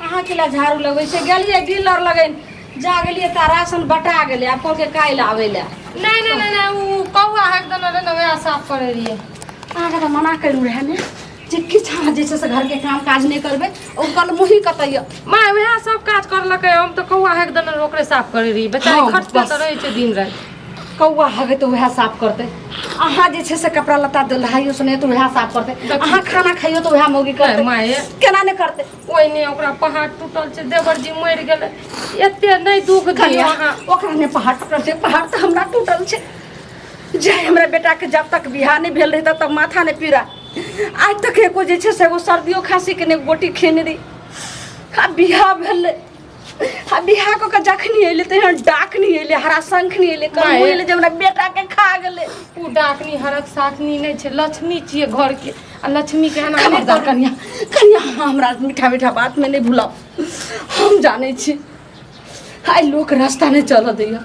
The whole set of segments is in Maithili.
कहाँ के ला झाड़ू लगबै छै गेलियै डीलर लगैन जा गेलियै तऽ राशन बटा गेलै आब कहलकै काल्हि आबै लए नहीं नहीं नहीं नहीं वो कौआ है एकदम अरे ना वह साफ कर रही है अहाँके तऽ मना करू रहए ने जे किछु अहाँ जे छै से घरके काम काज नहि करबै ओ कल मुही कतै यऽ माँ वह सब काज कर लके हम तो कौआ है एकदम अरे ओकरे साफ कर रही बेचारी हाँ, खटते बस। तो रहे छे दिन रात कौआ हगे तऽ उएह साफ करतै अहाँ जे छै से कपड़ा लत्ता धुलाइयो सुने तऽ उएह साफ करतै अहाँ खाना खाइयो तऽ उएह मौगी करतै माँ ये केना नहि करतै ओहिने ओकरा पहाड़ टूटल छै देवर जी मरि गेलै एते नहि दुख दियौ कनिया अहाँ ओकरा ने पहाड़ टूटल छै पहाड़ तऽ हमरा टूटल छै जे हमरा बेटाके जब तक बियाह नहि भेल रहै तब तक माथा नहि पीड़ा आज तक एको जे छै से एगो सर्दियो खाँसीके ने गोटी खेने रही आ बियाह भेलै आ बिहा कऽ के जखनी अइले तहिना डाकनी अइले हरा शंखनी अइले कमू माय। अइले जे हमरा बेटा के खा गेले ओ डाकनी हरक साथनी नहीं छे लक्ष्मी छिए घर के आ लक्ष्मी के एना नहीं खबरदार कनिया कनिया अहाँ हमरा मीठा मीठा बात में नहीं भूलब हम जाने छी आइ लोक रास्ता नहीं चलऽ दैया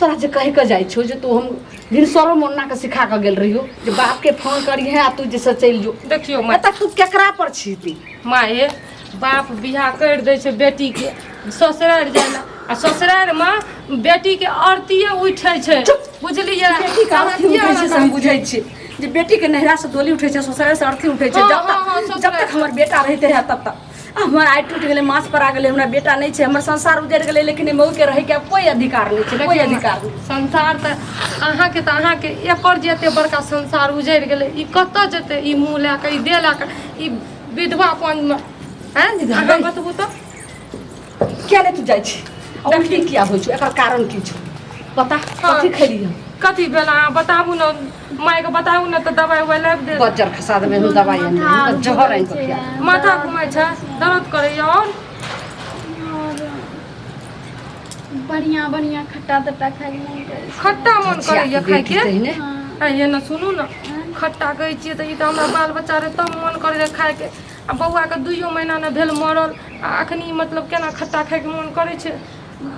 तोरा जे कहि कऽ जाइ छौ जे तू हम भिनसरो मोन्ना के सिखा कऽ गेल रहियो जे बाप के फोन करिहे आ तू जे से चलि जो देखियो माय एतऽ तू केकरा पर छी ती माये बाप बियाह कर दै छै बेटी के ससुरार जाय ला आ ससुरार मे बेटी के आरतीये उठै छै बुझलियै बेटी के अर्थी अरतिये उठै छै से हम अरतिये। बुझै छी जे बेटी के नैहरा से डोली उठै छै ससुराल से अर्थी उठै छै हाँ, जब हाँ, हाँ, तक ससुराल जब तक से। हमर बेटा रहिते है तब तक आ हमर आइ टूटि गेलै मास पर आ गेलै हमरा बेटा नहि छै हमर संसार उजड़ि गेलै लेकिन एहि मौके रहैके आब कोइ अधिकार नहि छै कोइ देखियौ ने, अधिकार नहि संसार तऽ अहाँके तऽ अहाँके एकर जे एते बड़का संसार उजड़ि गेलै ई कतऽ जेतै ई मुँह लए कऽ ई देह लए कऽ ई विधवापनमे आँय जे अहाँ बतबू तऽ किया नहि तू जाइ छी आ उल्टी किया होइ छौ एकर कारण की छौ पता कथी खेली हम कथी भेल अहाँ बताबू ने माय के बताऊ ना तो दवाई उवाई लाग दे बजर खसा देबे हम दवाई आनि देबे, हम त जहर आनि कऽ खिया देबे। माथा घुमै छै दर्द करे और बढ़िया बढ़िया खट्टा तट्टा खाए के मन करे छै। खट्टा मन करे छिया, या खाय बेटी के तहिने। हाँ, आ ये न सुनू न खट्टा कहै छियै तऽ ई तऽ हमरा बाल बच्चा रहे तब मन करे रहे खाय के आ बौआ के दुइयो महीना ने भेल मरल आ अखनी मतलब केना खट्टा खाय के मन करे छै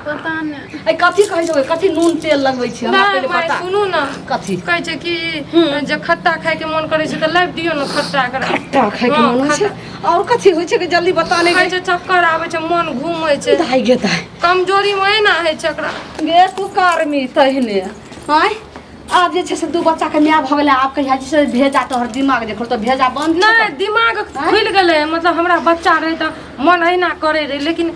पता नहि अरे कथी कहै छौ कथी नून तेल लगबै छी हमरा नहि पहिले माय बता सुनू ने कथी कहै छै कि जे खट्टा खायके मोन करै छै तऽ लाबि दियौ ने खट्टा एकरा खट्टा खाइके हँ, मन होइ छै खट्टा। आओर कथी होइ छै कि जल्दी बता नहि कहै गए छै चक्कर आबै छै मोन घूमै छै दाइ गे दाइ कमजोरी मे एना होइ छै एकरा गे तू कर्मी तहिने आँय आब जे छै से दू बच्चाके माय भऽ गेलै आब कहिया जे छै से भेजा तोहर दिमाग देखो तऽ भेजा बन्द नहि दिमाग खुलि गेलै मतलब हमरा बच्चा रहै तऽ मन अहिना करै रहै लेकिन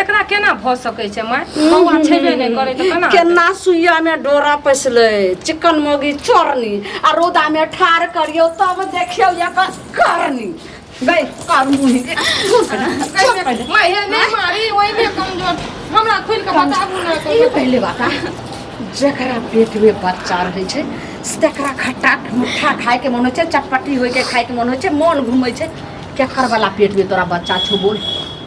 एकरा केना भऽ सकै छै माय बौआ छेबे नहि करै तऽ केना केना सुइया मे डोरा पैसले चिकन मोगी चोरनी आ रौदा मे ठार करियो तब देखियो एकर करनी गई कर मुही माय हे नहि मारी ओइ में कमजोर हमरा खुल के बताबू ना ई कहियो पहले बात आ जकरा पेट में बच्चा रहै छै से तकरा खट्टा मुट्ठा खायके मन होइ छै चटपटी होइके खायके मन होइ छै मन घूमै छै केकर वाला पेट में तोरा बच्चा छौ बोल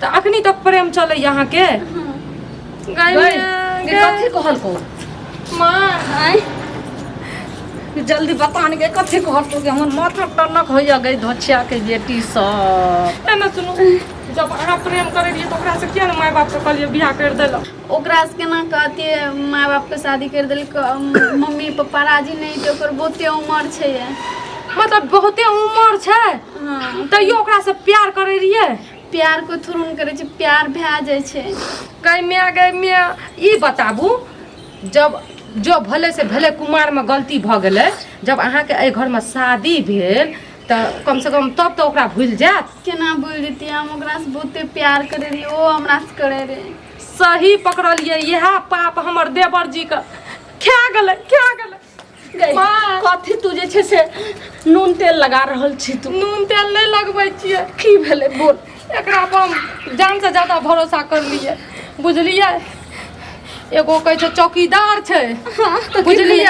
तऽ अखनी तक प्रेम चलै अहाँके कथी कहलको माँ आँय जल्दी बता ने के कथी कहलको कि हमर माथा टनक होइया गई धोछिया के बेटी सब ना सुनू जब अहाँ प्रेम करै रहियै तऽ ओकरासँ किया ने माय बापसँ कहलियै बियाह करि देलक ओकरा से केना कहती माय बाप के शादी कर दिल मम्मी पापा राजी नहीं थे ओकर बहुते उम्र छै मतलब बहुते उम्र छै हाँ तैयो ओकरा से प्यार करे रहिए प्यार को थोड़न करे छै प्यार भए जाए छै कई में गई में ई बताबू जब जो भले से भले कुमार में गलती भ गेले जब अहाँ के ए घर में शादी भेल त कम से कम तब तो ओकरा भूल जात केना भूल जतियै हम ओकरा से बहुते प्यार करे रहिए ओ हमरा से करे रहे सही पकड़लिए यह पाप हमर देवर जी के खा गल खा गल कथी तू जे छे से नून तेल लगा रहल छी तू नून तेल नहीं लगबे छिए की भेले बोल एकरा पर हम जान से ज्यादा भरोसा कर लिए बुझलिए एगो कहे छे चौकीदार छे हाँ, तो बुझलिए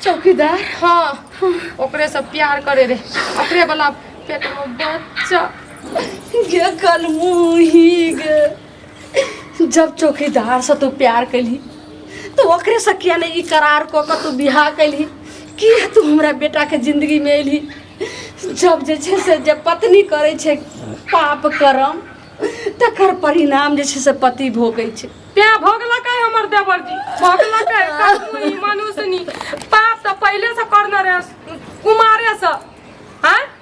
चौकीदार हाँ ओकरे से प्यार करे रे ओकरे वाला पेट में बच्चा ये कल मुही गे जब चौकीदार से तू प्यार कैली तो ओकरे से किया नहीं ई करार कऽ कऽ तू बियाह कैली किया तू हमरा बेटा के जिंदगी में एली जब जे छै से जब पत्नी करै छै पाप करम तकर परिणाम जे छै से पति भोगै छै तें भोगलकै हमर देवर जी भोगलकै कखनी मनुष्यनी पाप तऽ पहिले से करने रहे कुमारे से हैं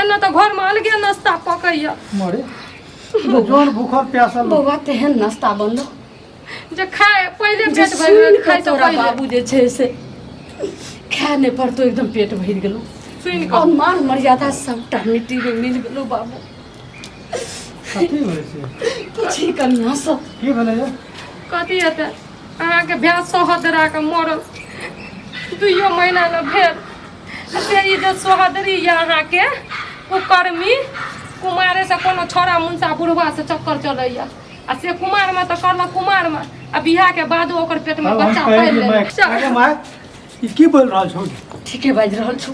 एना तऽ घरमे अलगे नाश्ता पकैया मरे तो जोन भूखल प्यासल लोग। बौआ तेहन नाश्ता बनलो जे खाए पहिले जे पेट भरि सुनि गेल, कऽ खाए से तोरा पहिले बाबू जे छै से खाए नहि पड़तो एकदम पेट भरि गेलो सुनि और कऽ मान मर्यादा सबटा मिट्टी में मिल गेलो बाबू कथी भेलै से पूछी कनिया से की भेलै यौ कथी हेतै अहाँके भैंस सोहत दरा कऽ मरल दुइयो महीना ने भेल अच्छा ई जे सोहदरी यऽ अहाँके कुकर्मी कुमारे से कोनो छोरा मुंसा बुढ़वा से चक्कर चलैया आ से कुमार में तो कहलक कुमार में आ बियाह के बादो ओकर पेट में अब हम बच्चा कहै पालि छी माय, लेलक अरे चल, माय, ई की बोल रहल छौ ठीके बाजि रहल छौ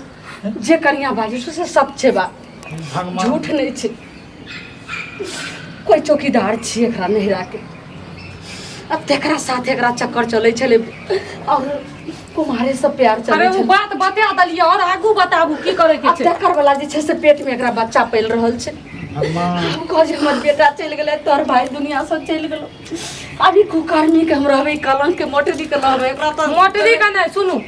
जे कनिया बाजै छौ से सच छै बा भगवान झूठ नहि छै कोइ चौकीदार छियै एकरा नहिराके आ तेकरा साथ एकरा चक्कर चलै छलै आओर कुमारे से प्यार अरे चलै ओ छलै बात बता देलियै और आगू बताबू की करे के आ छै तेकर वाला जे छै से पेट में एकरा बच्चा पैल रहल छै अम्मा हम कह जे हमर बेटा चलि गेलै तोहर भाई दुनिया से चलि गेलो अभी कुकर्मी के हम रहबै कलंक के मोटरी के रहबै एकरा तो मोटरी का नहीं सुनू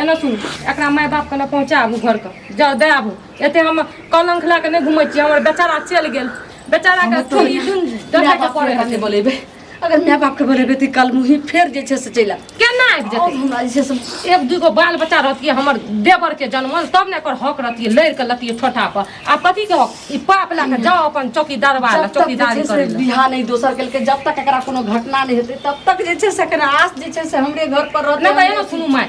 एना सुनू एकरा माय बाप के ना पहुंचाबू घर के जाओ दे आबू एते हम कलंक लए के नहि घुमै छियै हमर बेचारा चलि गेल बेचारा के छोड़ी सुन दसै के पड़े के बोलेबै अगर माय बाप के बोलेबै तऽ कल मुही फेर जे छै से चलि आयब केना आबि जेतै आओर हमरा जे छै से एक दूगो बाल बच्चा रहतियै हमर देवर के जन्मल तब ने एकर हक रहतियै लड़ के लतियै ठोठा पर आ कथी के हक ई पाप लए के जाओ अपन चौकीदार वाला जब तक जे चौकीदारी छै से करे लए। बिहा नहि दोसर केलकै जब तक एकरा कोनो घटना नहि हेतै तब तक जे छै से एकरा आस जे छै से हमरे घर पर रहतै नहि तऽ एना सुनू माय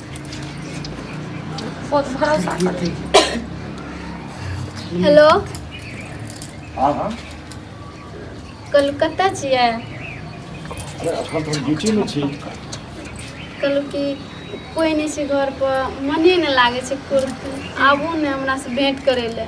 हेलो हाँ हाँ कलकत्ता छियै अरे अखन तो हम ड्यूटी में छी कहलहुँ कि कोइ नहि छै घरपर मने नहि लागै छै कुर्ती आबू ने हमरासँ भेँट करै लए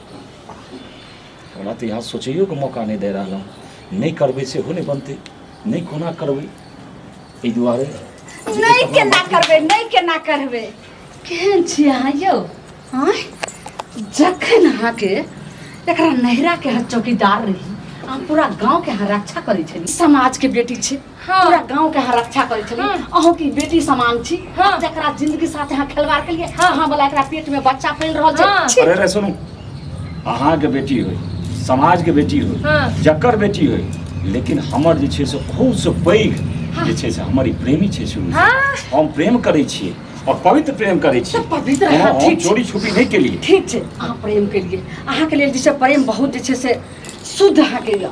हमरा तऽ यहाँ सोचैयोके मौका नहि दे रहल हँ नहि करबै सेहो नहि बनतै नहि कोना करबै एहि दुआरे जे नहि एतऽ हमरा केना बात- करबै नहि केना करबै केहन छी अहाँ यौ आँय जखन अहाँके एकरा नैहराके अहाँ चौकीदार रही अहाँ पूरा गाँवके अहाँ रक्षा करै छली समाजके बेटी छै हाँ। पूरा गांव के यहाँ रक्षा करे छली हाँ। अहू की बेटी समान छी हाँ। जकरा जिंदगी साथ यहाँ खिलवाड़ के लिए हाँ। हाँ वाला एकरा पेट में बच्चा फैल रहल छै हाँ। छी। अरे रे सुनू अहाँ के बेटी होय समाज के बेटी होय हाँ। जकर बेटी होय लेकिन हमर जे छै से खूब से पैघ जे छै से हमर ई प्रेमी छै शुरू से। हाँ। हम प्रेम करै छियै और पवित्र प्रेम करै छियै तऽ पवित्र हम- अहाँ हम ठीक छी। चोरी छुपी नहि केलियै ठीक छै अहाँ प्रेम केलिए अहाँके लेल जे छै प्रेम बहुत जे छै से शुद्ध अहाँके यऽ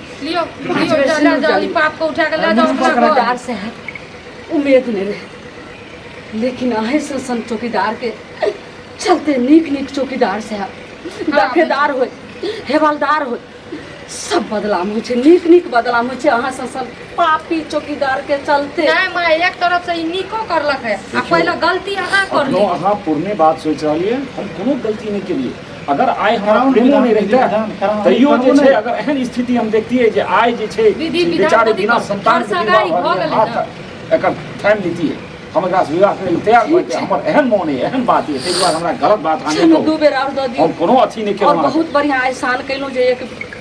लियो लियो जा ले जाओ ई पाप को उठा के ले जाओ अपना घर चौकीदार से है उम्मीद नहीं रहे लेकिन आहे से सन चौकीदार के चलते नीक नीक चौकीदार से है दफेदार हो हेवलदार हो सब बदलाम होइ छै नीक नीक बदलाम होइ छै अहाँ से सन पापी चौकीदार के चलते नहीं माँ एक तरफ से ई निको करलक है आ पहले गलती अहाँ कर ली अहाँ पुरने बात सोचि रहलियै हम कोनो गलती नहि केलियै अगर आइ हमरा प्रेमो नहि रहिते तैयो जे छै अगर एहन स्थिति हम देखतियै जे आइ जे छै बेचारे बिना संतान एकर थामि लेतियै हम एकरा विवाह करै तैयार भऽ जेतै हमर एहन मोन अइ एहन बात अइ ताहि दुआरे हमरा गलत बात अहाँ नहि कहू हम कोनो अथी नहि केलहुँ बहुत बढ़िआँ एहसान केलहुँ जे एक